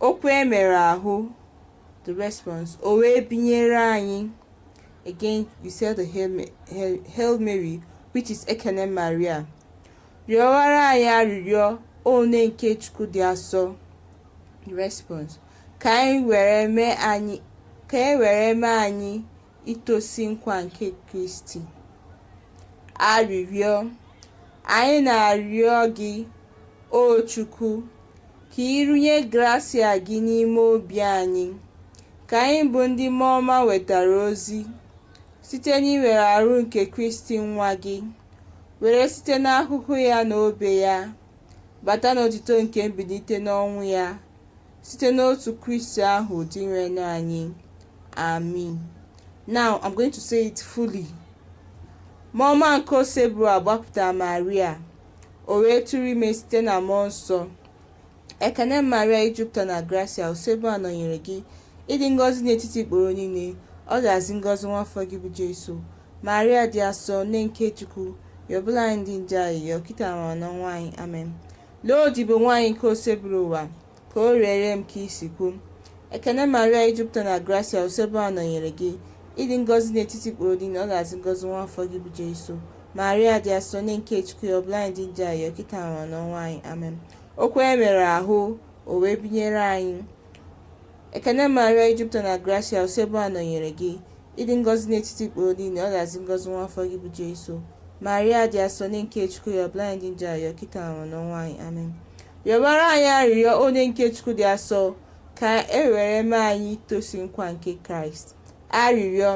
Okwu e mere ahụ, the response, o wee binyere anyị. Again, you say the Hail, Ma- Hail, Hail Mary, which is Ekene Maria. Rịọwara anyị arịrịọ, O Nne nke Chukwu dị asọ. The response, ka anyị were mee anyị, ka e were mee anyị itosi nkwa nke Kristi. Arịrịọ Anyị na-arịọ gị, O Chukwu, ka ị rụnye grasia gị n'ime obi anyị, ka anyị bụ ndị mmụọ ọma wetara ozi site n'iwere arụ nke Kristi nwa gị, were site n'ahụhụ ya na obe ya bata n'otito nke mbilite n'ọnwụ ya. Site n'otu Kristi ahụ Dinwenụ anyị. Amin. Now I'm going to say it fully. Mmụọ ọma nke Osebụrụwa gbapụtara Maria, o wee tụrụ ime site na mmụọ nsọ. Ekene Maria i jupụta na grasia, Osebụrụwa nọnyere gị, ị dị ngọzi n'etiti ikporo niile, ọ dịazị ngọzi nwa afọ gị bụ Jesu. Maria dị asọ, nne nke Chukwu, yọbara anyị ndị njọ ayịyọ, kịta ma n'ọnwụ anyị. Amen. Lee odibo nwanyị nke Osebụrụwa, ka o reere m ka i si kwu. Ekene Maria i jupụta na grasia Osebụrụwa nọnyere gị, ị dị ngọzi n'etiti ikporo niile, ọ dịazị ngọzi nwa afọ gị bụ Jesu. Maria dị asọ, Nne nke Chukwu, yọbara anyị ndị njọ ayịyọ, kịta ma n'ọnwụ anyị. Amen. Okwu e mere ahụ, o wee binyere anyị. Ekene Maria i jupụta na grasia, Osebụrụwa nọnyere gị. Ị dị ngọzi n'etiti ikporo niile, ọ dịazị ngọzi nwa afọ gị bụ Jesu. Maria dị asọ Nne nke Chukwu yọbara anyị ndị njọ ayịyọ kịta ma n'ọnwụ anyị amen. Yọbara anyị arịrịọ O Nne nke Chukwu dị asọ ka e were mee anyị itosi nkwa nke Kraịst. Arịrịọ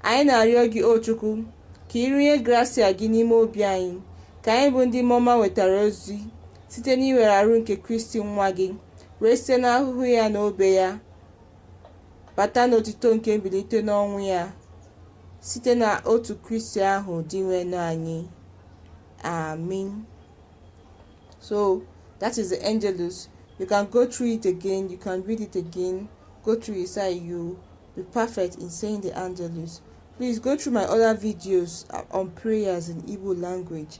anyị na-arịọ gị o Chukwu ka ị rụnye grasia gị n'ime obi anyị ka anyị bụ ndị mmụọ ọma wetara ozi site n'iwere arụ nke Kristi nwa gị, wee site n'ahụhụ ya na obe ya bata n'otito nke mbilite n'ọnwụ ya site na otu Kristi ahụ Dinwenụ anyị. Amen. So that is the Angelus. You can go through it again, you can read it again, go through it so you be perfect in saying the Angelus. Please go through my other videos uh, on prayers in Igbo language.